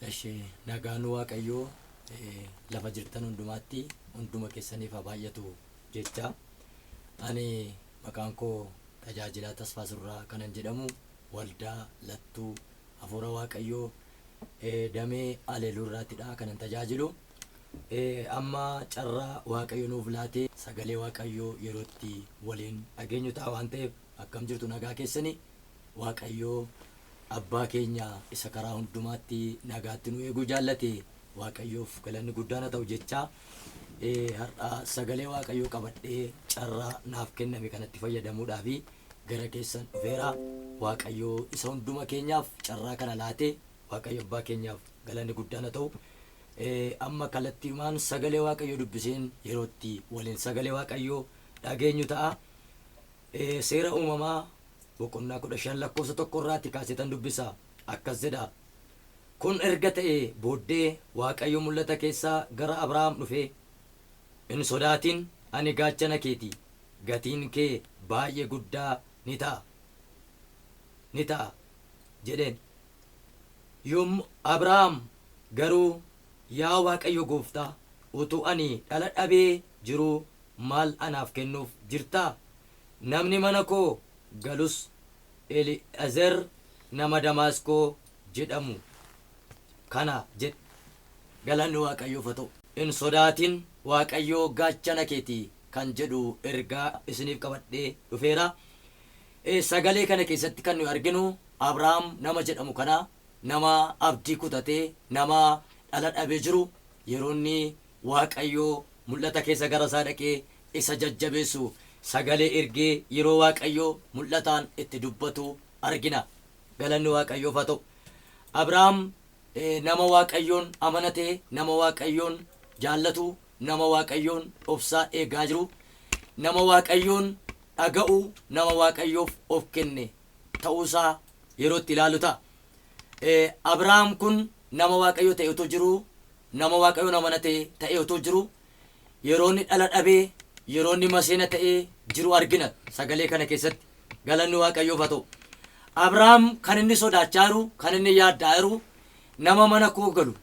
Ishee nagaan waaqayyoo eh, lafa jirtan hundumaatti hunduma keessaniif haa baay'atu jecha ani maqaan koo tajaajilaa tasfaa surraa kanan jedhamu waldaa lattuu hafuura waaqayyoo eh, damee aleeluu irraattidha kanan tajaajilu Amma carraa waaqayyo nuuf laatee sagalee waaqayyoo yeroo itti waliin dhageenyu ta'a waan ta'eef akkam jirtu nagaa keessanii waaqayyo abbaa keenya isa karaa hundumaatti nagaatti nu eeguu jaallate waaqayyoof galanni guddaan haa ta'u jechaa har'a sagalee waaqayyoo qabadhee carraa naaf kenname kanatti fayyadamuudhaa fi gara keessan dhufeera waaqayyoo isa hunduma keenyaaf carraa kana laatee waaqayyo abbaa keenyaaf galanni guddaan haa ta'u Amma kalattiumaan sagalee Waaqayyoo dubbiseen yeroo itti waliin sagalee Waaqayyoo dhageenyu ta'a. Seera uumamaa boqonnaa 15 lakkoofsa tokko irraatti kaaseetan dubbisa. Akkas jedha. Kun erga ta'ee booddee Waaqayyo mul'ata keessaa gara Abrahaam dhufee, Hin sodaatin, ani gaachana keeti, gatiin kee baay'ee guddaa ni ta'a, ni ta'a jedheen. Yommuu Abrahaam garuu, Yaa Waaqayyo gooftaa, utuu ani dhala dhabee jiruu maal anaaf kennuuf jirtaa? Namni mana koo galus Eli'ezer nama Damaasqoo jedhamu kana jedhe. Galanni Waaqayyoof haa ta'u! Hin sodaatin, Waaqayyo gaachana kee ti kan jedhu ergaa isiniif qabadhee dhufeera. Sagalee kana keessatti kan nuyi arginu Abrahaam nama jedhamu kana nama abdii kutate, nama dhala dhabe jiru yeroo inni Waaqayyo mul'ata keessa gara isaa dhaqee isa jajjabeessu sagalee ergee yeroo Waaqayyo mul'ataan itti dubbatu argina. Galanni Waaqayyoof haa ta'u. Abrahaam nama Waaqayyoon amanate, nama Waaqayyoon jaallatu, Nama Waaqayyoon obsaa eegaa jiru, nama Waaqayyoon dhaga'u, nama Waaqayyoof of kenne ta'uu isaa yeroo itti ilaallu ta'a. Abrahaam kun nama Waaqayyoo ta'ee utuu jiruu, nama Waaqayyoon amanate ta'ee utuu jiruu, yeroo inni dhala dhabee, yeroo inni maseena ta'ee jiru argina sagalee kana keessatti. Galanni Waaqayyoof haa ta'u. Abrahaam kan inni sodaachaa jiru, kan inni yaadda'aa jiru, nama mana koo galu,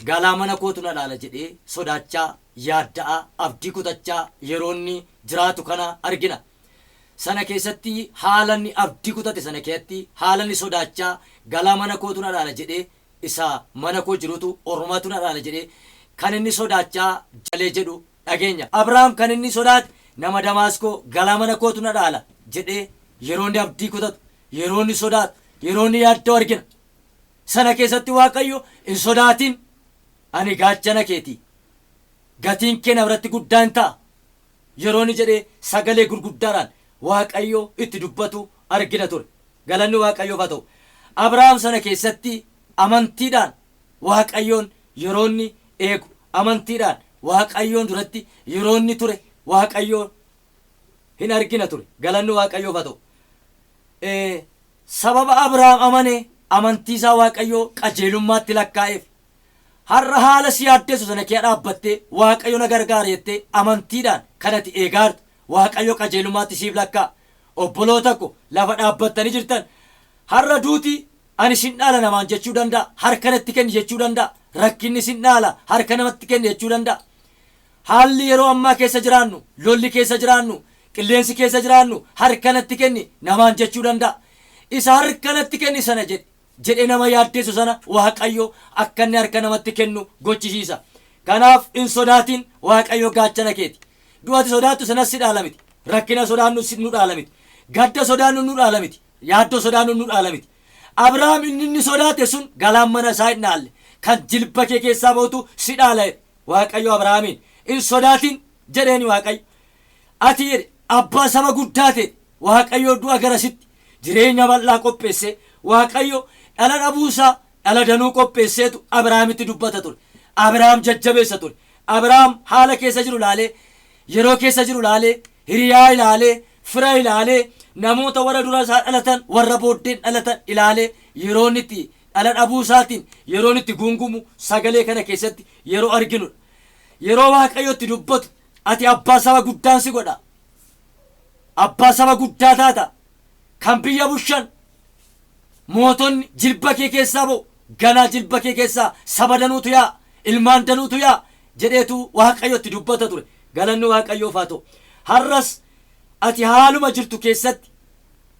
Galaa mana kootu na laala jedhee sodaachaa, yaadda'aa, abdii kutachaa yeroo inni jiraatu kana argina. Sana keessatti haala inni abdii kutate sana keeatti haala inni sodaachaa galaa mana kootu na laala jedhee isa mana koo jirutu ormatu na laala jedhee kan inni sodaachaa jalee jedhu dhageenya. Abrahaam kan inni sodaate nama Damaaskoo galaa mana kootu na laala jedhee yeroo inni abdii kutatu, yeroo inni sodaatu, yeroo inni yaadda'u argina. Sana keessatti Waaqayyo, Hin sodaatin! Ani gaachana kee ti. Gatiin kee na biratti guddaa in ta'a! yeroo inni jedhee sagalee gurguddaadhaan Waaqayyo itti dubbatu argina ture. Galanni Waaqayyoof haa ta'u! Abrahaam sana keessatti amantiidhaan Waaqayyoon yeroo inni eegu, amantiidhaan Waaqayyoon duratti yeroo inni ture Waaqayyo in argina ture. Galanni Waaqayyoof haa ta'u! Ee, Sababa Abrahaam amane, amantii isaa Waaqayyo qajeelummaatti lakkaa'eef. Har'a haala si yaaddessu sana kea dhaabbattee, Waaqayyo na gargaara jettee amantiidhaan kan ati eegaa jirtu, Waaqayyo qajeelummaatti siif lakkaa'a. Obboloota ko, lafa dhaabbattanii jirtan, har'a duuti ani sin dhaala namaan jechuu danda'a, harka natti kenni jechuu danda'a, rakkinni sin dhaala, harka namatti kenni jechuu danda'a. Haalli yeroo ammaa keessa jiraannu, lolli keessa jiraannu, qilleensi keessa jiraannu harka natti kenni namaan jechuu danda'a. Isa harka natti kenni sana jedhi jedhee nama yaaddeessu sana Waaqayyo akka inni harka namatti kennu gochisiisa. Kanaaf hin sodaatin Waaqayyo gaachana keeti. Du'a ati sodaattu sanas si dhaala miti. Rakkina sodaannu nu dhaala miti. Gadda sodaannu nu dhaala miti. Yaaddoo sodaannu nu dhaala miti. Abrahaam inni inni sodaate sun galaan mana isaa hin dhaalle. Kan jilba kee keessaa ba'utu si dhaala jedhe. Waaqayyo Abrahaamiin, Hin sodaatin! jedheen Waaqayyo. Ati jedhe, abbaa saba guddaa teeti. Waaqayyo du'a gara sitti, jireenya bal'aa qopheessee. Waaqayyo dhala dhabuu isaa, dhala danuu qopheesseetu Abrahaamitti dubbata ture. Abrahaam jajjabeessa ture. Abrahaam haala keessa jiru ilaalee, yeroo keessa jiru ilaalee, hiriyaa ilaalee, fira ilaalee, namoota warra dura isaa dhalatan, warra booddeen dhalatan ilaalee yeroo inni itti dhala dhabuu isaatiin yeroon itti guungumu sagalee kana keessatti yeroo arginu dha. Yeroo Waaqayyo itti dubbatu ati abbaa saba guddaan si godha. Abbaa saba guddaa taata. Kan biyya bushan mootonni jilba kee keessaa ba'u. Ganaa jilba kee keessaa saba danuutu yaa ilmaan danuutu yaa jedheetu Waaqayyo itti dubbata ture. Galanni Waaqayyoof haa ta'u. Har'as ati haaluma jirtu keessatti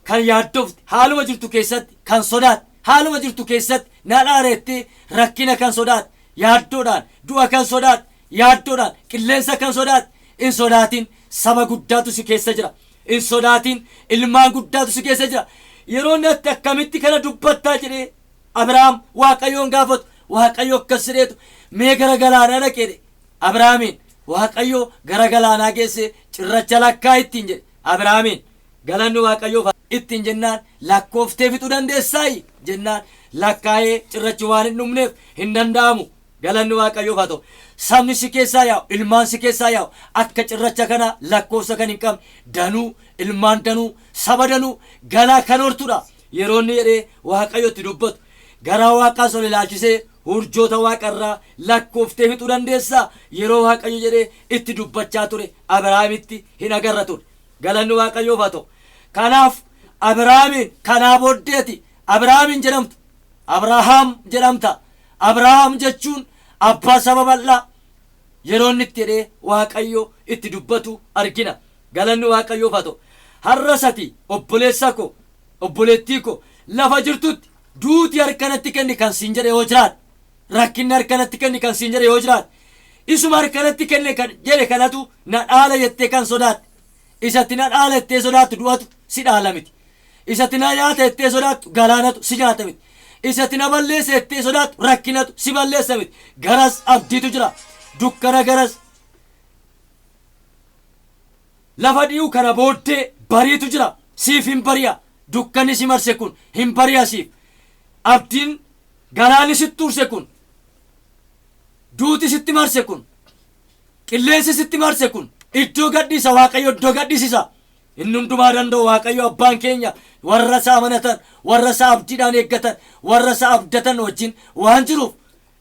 Kan yaaddofte, haaluma jirtu keessatti kan sodaatte, haaluma jirtu keessatti na dhaara jettee rakkina kan sodaatte, yaaddoodhaan, du'a kan sodaatte, yaaddoodhaan, qilleensa kan sodaatte, hin sodaatin, saba guddaatu si keessa jira. Hin sodaatin, ilmaan guddaatu si keessa jira. Yeroo inni atti akkamitti kana dubbattaa jedhee Abrahaam Waaqayyoon gaafatu, Waaqayyo akkas jedheetu mee gara galaanaa dhaqi jedhe. Abrahaamiin Waaqayyo gara galaanaa geessee cirracha lakkaa ittiin jedhe. Abrahaamiin Galanni Waaqayyoof haa. ittiin jennaan lakkooftee fixuu dandeessaayi? jennaan lakkaa'ee cirrachuu waan hin dhumneef hin danda'amu. Galanni Waaqayyoof haa ta'u. Sabni si keessaa yaa'u, ilmaan si keessaa yaa'u akka cirracha kanaa lakkoofsa kan hin qabne danuu, ilmaan danuu, saba danuu galaa kan hortu dha. Yeroo inni jedhee Waaqayyo itti dubbatu garaa Waaqaas ol ilaalchisee urjoota Waaqa irraa lakkooftee fixuu dandeessaa? Yeroo Waaqayyo jedhee itti dubbachaa ture Abirahaamitti hin agarra ture. Galanni Waaqayyoof haa ta'u. Kanaaf Abrahaamiin, kanaa booddee ati Abrahaam hin jedhamtu, Abrahaam jedhamta. Abrahaam jechuun abbaa saba bal'aa. Yeroo inni itti jedhee Waaqayyo itti dubbatu argina. Galanni Waaqayyoof haa ta'u. Har'as ati obboleessa koo, obboleettii koo lafa jirtutti duuti harka natti kenni kan siin jedhe yoo jiraate, rakkinni harka natti kenni kan siin jedhe yoo jiraate isuma harka natti kenne kan jedhe kanatu na dhaala jettee kan sodaatte isatti na dhaala jettee sodaattu du'atu si dhaala miti isatti na nyaata jettee sodaattu galaanatu si nyaata miti isatti na balleessa jettee sodaattu rakkinatu si balleessa miti garas abdiitu jira dukkana garas lafa dhi'u kana booddee bariitu jira siif hin bari'a dukkanni si marse kun hin bari'a siif abdiin Galaanni sitti urse kun, duuti sitti marse kun, qilleensi sitti marse kun iddoo gad dhiisa Waaqayyo iddoo gad dhisisa. Inni hundumaa danda'u Waaqayyo abbaan keenya warra isa amanatan, warra isa abdiidhaan eeggatan, warra isa abdatan wajjin waan jiruuf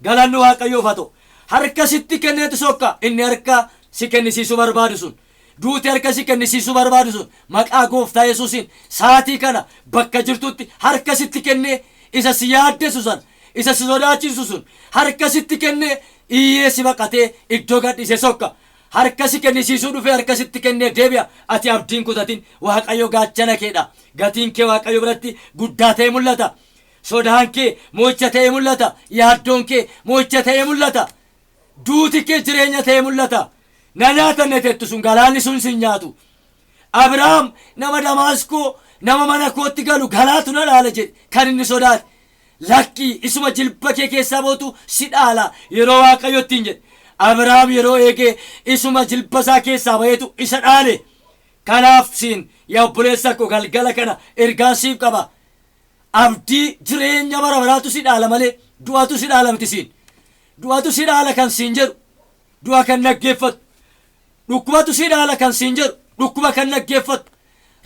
galanni Waaqayyoof haa ta'u. Harka sitti kenneeti sokka inni harka si kennisiisuu barbaadu sun. Duuti harka si kennisiisuu barbaadu sun maqaa Gooftaa Yesuusiin sa'aatii kana bakka jirtutti harka sitti kennee isa si yaaddessu sana, isa si sodaachisu sun harka sitti kennee iyyee si baqatee iddoo gad dhiisee sokka. Harka si kennisiisuu dhufee harka sitti kennee deebi'a. Ati abdii hin kutatin. Waaqayyo gaachana kee dha. Gatiin kee Waaqayyo biratti guddaa ta'ee mul'ata. Sodaan kee mo'icha ta'ee mul'ata. Yaaddoon kee mo'icha ta'ee mul'ata. Duuti kee jireenya ta'ee mul'ata. Na nyaatanne tettu sun galaanni sun sin nyaatu. Abrahaam nama Damaasqoo nama mana kootti galu galaatu na dhaala jedhe kan inni sodaate. Lakki isuma jilba kee keessaa ba'utu si dhaala yeroo Waaqayyo ittiin jedhe. Abrahaam yeroo eege isuma jilba isaa keessaa ba'eetu isa dhaale. Kanaaf siin yaa obboleessa koo galgala kana ergaan siif qaba. Abdii jireenya bara baraatu si dhaala malee du'atu si dhaala miti siin. Du'atu si dhaala kan siin jedhu du'a kan dhaggeeffatu, dhukkubatu si dhaala kan siin jedhu dhukkuba kan dhaggeeffatu,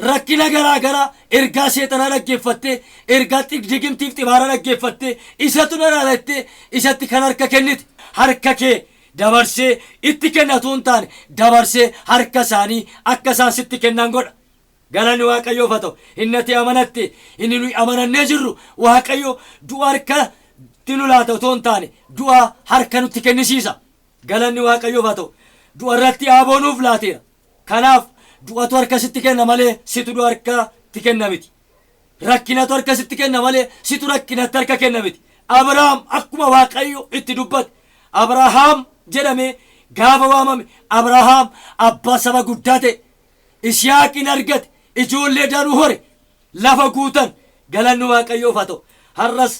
rakkina garaa garaa ergaa seexanaa dhaggeeffattee, ergaa xig- digimtiif xibaaraa dhaggeeffattee, isatu na dhaala jettee isatti kan harka kennite. Harka kee dabarsee itti kenna utuu hin taane, dabarsee harka isaanii akka isaan sitti kennan godha. Galanni Waaqayyoof haa ta'u. Inni ati amanatte, inni nuyi amanannee jirru Waaqayyo du'a harkatti nu laata otoo hin taane du'a harka nutti kennisiisa. Galanni Waaqayyoof haa ta'u. Du'a irratti aaboo nuuf laateera. Kanaaf du'atu harka sitti kenna malee situ du'a harkatti kenna miti. Rakkinatu harka sitti kenna malee situ rakkinatti harka kenna miti. Abrahaam akkuma Waaqayyo itti dubbate Abrahaam jedhamee gaafa waamame Abrahaam abbaa saba guddaa ta'e. Ishiyaaq in argate, ijoollee danuu hore, lafa guutan. Galanni Waaqayyoof haa ta'u. Har'as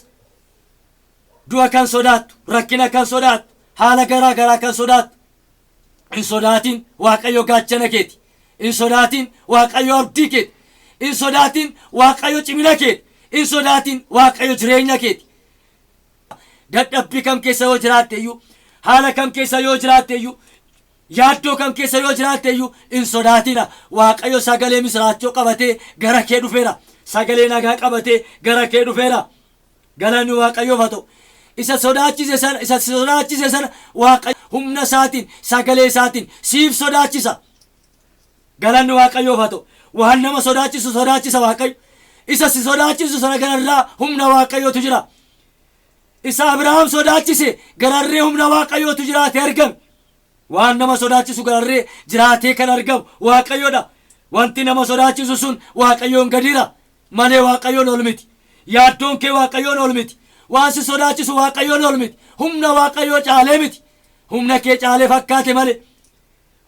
du'a kan sodaattu, rakkina kan sodaattu, haala garaa garaa kan sodaattu, hin sodaatin Waaqayyo gaachana keeti. Hin sodaatin Waaqayyo abdii keeti. Hin sodaatin Waaqayyo cimina keeti. Hin sodaatin Waaqayyo jireenya keeti. Dadhabbii kam keessa yoo jiraatte iyyuu, haala kam keessa yoo jiraatte iyyuu, Yaaddoo kam keessa yoo jiraatte iyyuu hin sodaatina. Waaqayyo sagalee misiraachoo qabatee gara kee dhufeera. Sagalee nagaa qabatee gara kee dhufeera. Galanni Waaqayyoof haa ta'u. Isa sodaachise sana, isa si sodaachise sana Waaqayyo humna isaatiin, sagalee isaatiin siif sodaachisa. Galanni Waaqayyoof haa ta'u. Waan nama sodaachisu sodaachisa Waaqayyo. Isa si sodaachisu sana gararraa humna Waaqayyootu jira. Isa Abrahaam sodaachise gararree humna Waaqayyootu jiraate argame. Waan nama sodaachisu gararree jiraatee kan argamu Waaqayyo dha. Wanti nama sodaachisu sun Waaqayyoon gadira malee Waaqayyoon ol miti. Yaaddoon kee Waaqayyoon ol miti. Waan si sodaachisu Waaqayyoon ol miti. Humna Waaqayyoo caalee miti. Humna kee caalee fakkaate malee,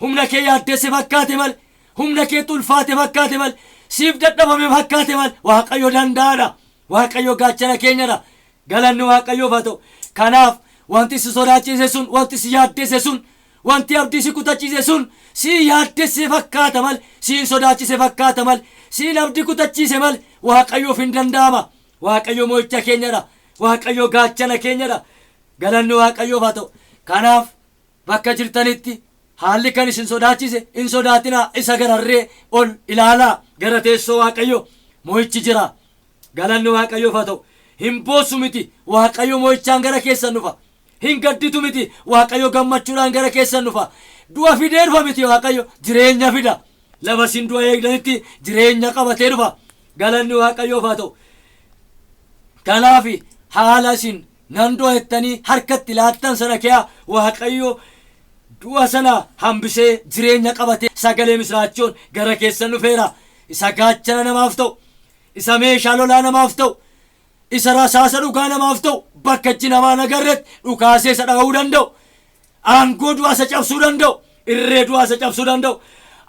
humna kee yaaddesse fakkaate malee, humna keetti ulfaate fakkaate malee, siif dadhabame fakkaate malee Waaqayyo danda'aa dha. Waaqayyo gaachana keenya dha. Galanni Waaqayyoof haa ta'u. Kanaaf wanti si sodaachiise sun, wanti si yaaddesse sun, wanti abdii si kutachiise sun si yaaddesse fakkaata male, si hin sodaachise fakkaata male, si hin abdi kutachiise male Waaqayyoof hin danda'ama. Waaqayyo moo'icha keenya dha. Waaqayyo gaachana keenya dha. Galanni Waaqayyoof haa ta'u. Kanaaf Bakka jirtanitti haalli kan isin sodaachise hin sodaatinaa, isa gararree ol ilaalaa. Gara teessoo Waaqayyo mo'ichi jira. Galanni Waaqayyoof haa ta'u. Hin boossu miti, Waaqayyo mo'ichaan gara keessan dhufa. Hin gadditu miti, Waaqayyo gammachuudhaan gara keessan dhufa. Du'a fidee dhufa miti Waaqayyo, jireenya fida. Lafa isin du'a eegdanitti jireenya qabatee dhufa. Galanni Waaqayyoof haa ta'u. Kanaaf haala isin Nan du'a jettanii harka itti laattan sana kea Waaqayyo du'a sana hambisee jireenya qabatee sagalee misiraachoon gara keessan dhufeera. Isa gaachana namaaf ta'u, isa meeshaa lolaa namaaf ta'u, isa rasaasa dhugaa namaaf ta'u bakka ijji namaa hin agarretti dhukaasee isa dha'uu danda'u, aangoo du'aa isa cabsuu danda'u, irree du'aa isa cabsuu danda'u,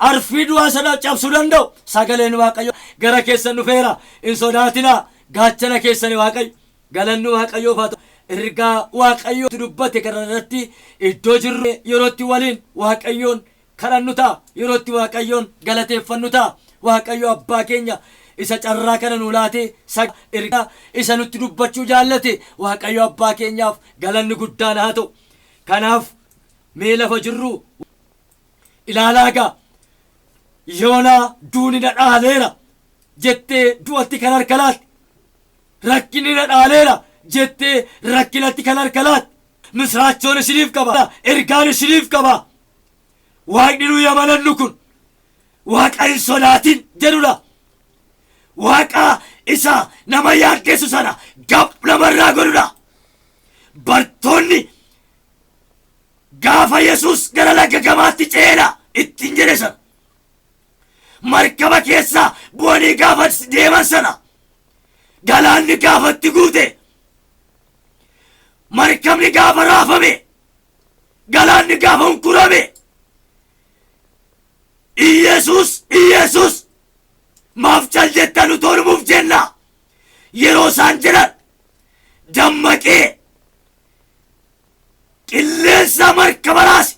arfii du'aa isa dha- cabsuu danda'u sagaleen Waaqayyo gara keessan dhufeera. Hin sodaatinaa gaachana keessani Waaqayyo. Galanni Waaqayyoof haa ta'u ergaa Waaqayyo nutti dubbate kana irratti iddoo jirru yeroo itti waliin Waaqayyoon kadhannu ta'a. Yeroo itti Waaqayyoon galateeffannu ta'a. Waaqayyo abbaa keenya isa carraa kana nuu laatee sagalee ergaa isa nutti dubbachuu jaallate Waaqayyo abbaa keenyaaf galanni guddaan haa ta'u. Kanaaf mee lafa jirru ilaalaa gaa yoonaa duuni na dhaaleera jettee du'atti kan harka laatte Rakkinni na dhaaleera jettee rakkinatti kan harka laatte. Misiraachoon isiniif qaba. Ergaan isiniif qaba. Waaqni nuyi amanannu kun Waaqa hin sodaatin jedhudha. Waaqa isa nama yaaddessu sana gab namarraa godhudha. Bartoonni gaafa Yesuus gara laga gamaatti ceena ittiin jedhe sana. Markaba keessa bu'anii gaafa deeman sana galaanni gaafa itti guute markabni gaafa raafame galaanni gaafa hunkurame Iyeesuus Iyeesuus maaf cal jettan utoo dhumuuf jenna yeroo isaan jedhan dammaqee Qilleensa markaba raase,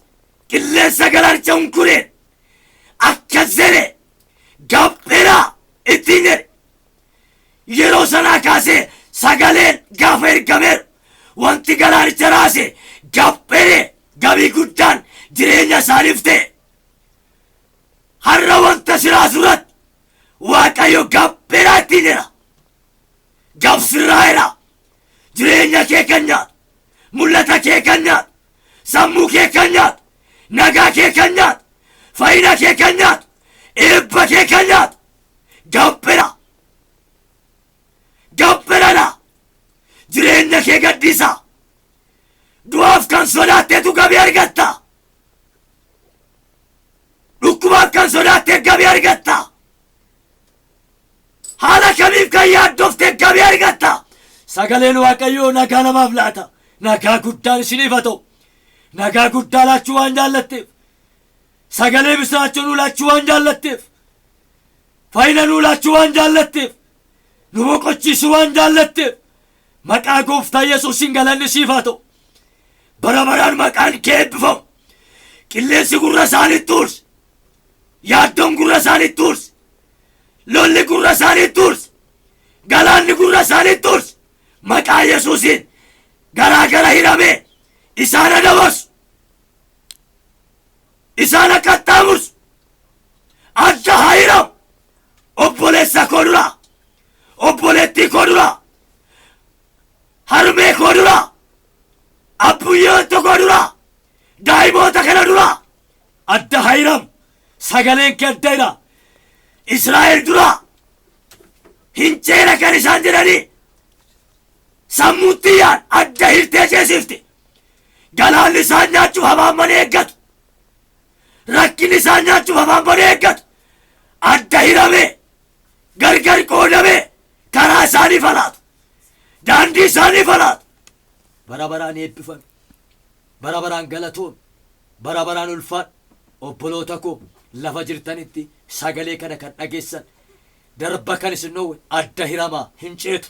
qilleensa galarcha hunkureen akka zere gabdheraa ittiin jedhe. Yeroo sanaa kaasee sagaleen gaafa ergameeru wanti galaanicha raase gabdheree gabii guddaan jireenya isaaniif ta'e. Har'a wanta si raasu irratti Waaqayyo gabdheraa ittiin jedha. Gabsirraa'eera jireenya kee kan nyaatu. Mul'ata kee kan nyaatu, sammuu kee kan nyaatu, nagaa kee kan nyaatu, fayyina kee kan nyaatu, eebba kee kan nyaatu gampira. Gampiradha. Jireenya kee gaddisa. Du'aaf kan sodaatteetu gabii argatta. Dhukkubaaf kan sodaatteef gabii argatta. Haala kamiif kan yaaddofte gabii argatta? Sagaleen Waaqayyoo nagaa namaaf laata. Nagaa guddaan isiniif haa ta'u. Nagaa guddaa laachuu waan jaallatteef. Sagalee misiraachoo nuu laachuu waan jaallatteef. Fayyina nuu laachuu waan jaallatteef. Nu boqochiisuu waan jaallatteef. Maqaa gooftaa Yesuusiin galanni siif haa ta'u. Bara baraan maqaan kee eebbifamu. Qilleensi gurra isaaniitti uurse. Yaaddoon gurra isaanii tuurse. Lolli gurra isaanii tuurse. Galaanni gurra isaanii tuurse. Maqaa Yesuusiin garaa gara hidhamee isaan adabarsu. Isaan akka qaxxaamursu. Adda haa hidhamu. Obboleessa koo duraa. Obboleettii koo duraa. Harmee koo duraa. Abbuyyee tokko duraa. Daa'imoota kana duraa. Adda Hayram sagaleen kee adda jira. Israa'el dura hin ceena kan isaan jedhanii sammuutti yaan adda hirtee ceesifte. Galaanni isaan nyaachuuf afaan banee eeggatu. Rakkinni isaan nyaachuuf afaan banee eeggatu. Adda hiramee gargar qoodamee karaa isaanii falaatu. Daandii isaanii falaatu. Bara baraan eebbifame. Bara baraan galatoomi. Bara baraan ulfaadhu. Obboloota koo lafa jirtanitti sagalee kana kan dhageessan darba kan isin dhoowwe adda hiramaa hin ceetu.